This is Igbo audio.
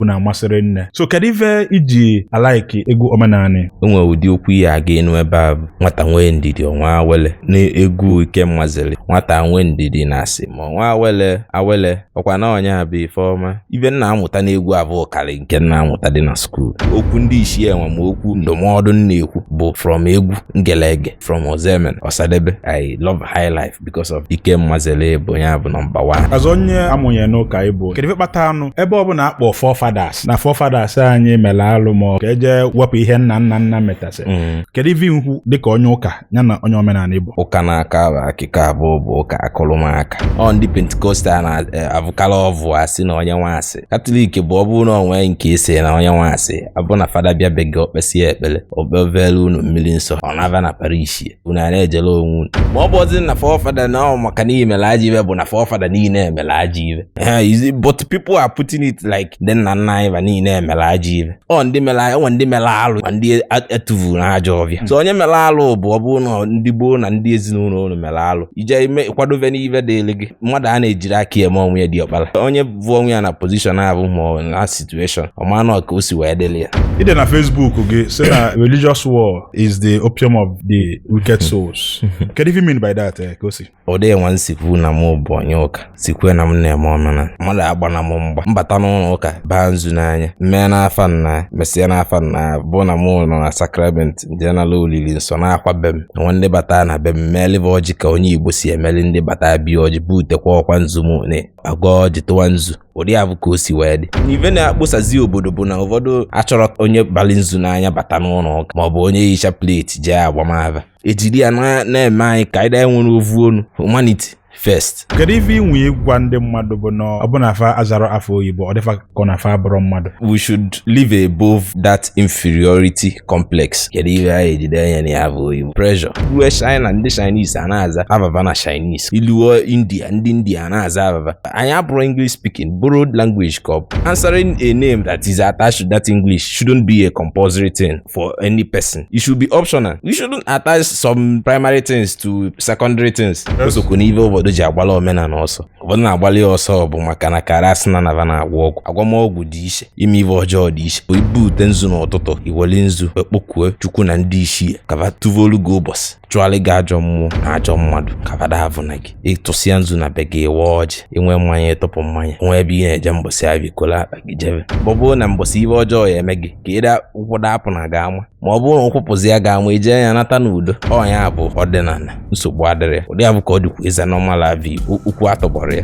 bụ na amasịrị nne so kedu ife i ji alaiki egwu omenanị o nwere ụdị okwu ị ya-aga anụ ebe avụ nwata nwee ndidi ọnwa awele na egwu Ikem Mazeli nwata nwee ndidi na a sị ma ọnwa awele awele ọkwa na ọ nya bụ ife ọma ive m na-amụta n'egwu avụ karị nke m na-amụtadị na skuul okwu ndị isi enwe ma okwu ndụmọdụ m na-ekwu bụ from egwu m gele ege from Ozoemena Osadebe I love high life because of Ikem Mazeli bụ ya bụ nọmba one. As onye a mụnye n'ụka ị bụ kedu ife kpata anụ ebe ọ bụna a kpọ forefathers na forefathers anyị mere alụ ma ọ ka e je wepụ ihe nna nna nna metasị mm. kedu ife i kwu dịka onye ụka ya na onye omenala ị bụ ụka a na-aka bụ akụkọ abụọ bụ ụka akụrụmaka ọ ndị pentikostal na-avụkala eh, ọvụ a sị na onye nwa sị katọlik bụ ọ bụrụ na o nwee nke i sị na onye nwa sị abụ na fada bịa be gị o kpesịa ekpere o kpevelu unu mmiri nsọ ọ nabaa na parish unu a na-ejele onwe unu ma ọ bụrụzi na forefather na ọ maka na e mere ajọ ive bụ na forefather niile emerọ ajọ ive but people are putting it like ndị nna nna anyị va niile mere ajọ ive ọ ndị mere e nwe ndị mere alụ ma ndị e tuvuru n'ajọ ọvịa so onye mere alụ bụ ọ bụrụ na ndị gboo na ndị ezinụlọ unu mere alụ i jee i mee kwadobe n'ive dịrị gị mmadụ a na-ejirọ aka eme onwe ya diọkpara onye vụọ onwe ya na position ahụ ma ọ na situation ọ mara na ọ ka o si wee dịrị ya i de na Facebook gị sị na religious war is the opium of the wicked souls kedu ife i mean by that eh, ka o si ụdị nwa m sikwuo na mụ bụ onye ụka sikwuo na m na-eme omenana mmadụ agbana m mgba m bata n'ụlọ ụka baa nzu n'anya m mee n'afa nna mesịa n'afa nna bụ na mụ nọ na sakrament jee nala olili nsọ naakwa be m nwe ndị bata na be m meeli ve ọjị ka onye igbo si emeli ndị bata be ya ọjị butekwa ọkwa nzu m na agọ ọjị tụwa nzu ụdị avụ ka o si wee dị n'ive na-akposazi obodo bụ na ụfọdụ achọrọ onye bali nzu n'anya bata n'ụlọ ụka maọbụ onye yi chaplet jee agbama ava e jiri ya na-eme anyị ka anyị daa nwere ovu onu humanity first kedu ife i nwe ịgwa ndị mmadụ bụ na ọ bụ na fa azarọ afa oyibo ọ dị fa ka ọ na fa abụrọ mmadụ we should live above that inferiority complex kedu ihe anyị ejide anya na ya bụ oyibo pressure ruo china ndị chinese a na-aza ava va na chinese i luo india ndị india a na-aza ava va anyị abụrọ english speaking borrowed language ka ọ bụ answering a name that is attached to that english shouldn't be a compulsory thing for any person it should be optional you shouldn't attach some primary things to secondary things o sokwu n'ihe ụfọdụ ji agbala omenala ọsọ ụfọdụ na-agbalị ya ọsọ bụ maka na ka ghara asị na na va na-agwọ ọgwụ agwọm ọgwụ dị iche ime ive ọjọọ dị iche i bute nzu n'ụtụtụ i weli nzu ekpokue chukwu na ndị ichie ka va tụvolu gị ụbọchị chụalị gị ajọ mmụọ na ajọ mmadụ ka va da avụna gị ị tụsịa nzu na be gị ị waa ọjị i nwee mmanya ị tụpụ mmanya o nwee ebe ị na-eje mbọsị avụ i kolo akpa gị jebe ọ bụ na mbọsị ive ọjọọ ya-eme gị ka ịda ụkwụ dapụ na ga ama ma ọ bụrụ na ụkwụ pụzi ya ga ama i jee ya nata n'udo ọ nya bụ ọdịnala nsogbu adịrọ ya ụdị avụ ka ọ dịkwu eze n'ọmala ive okwu atọgbọrọ ya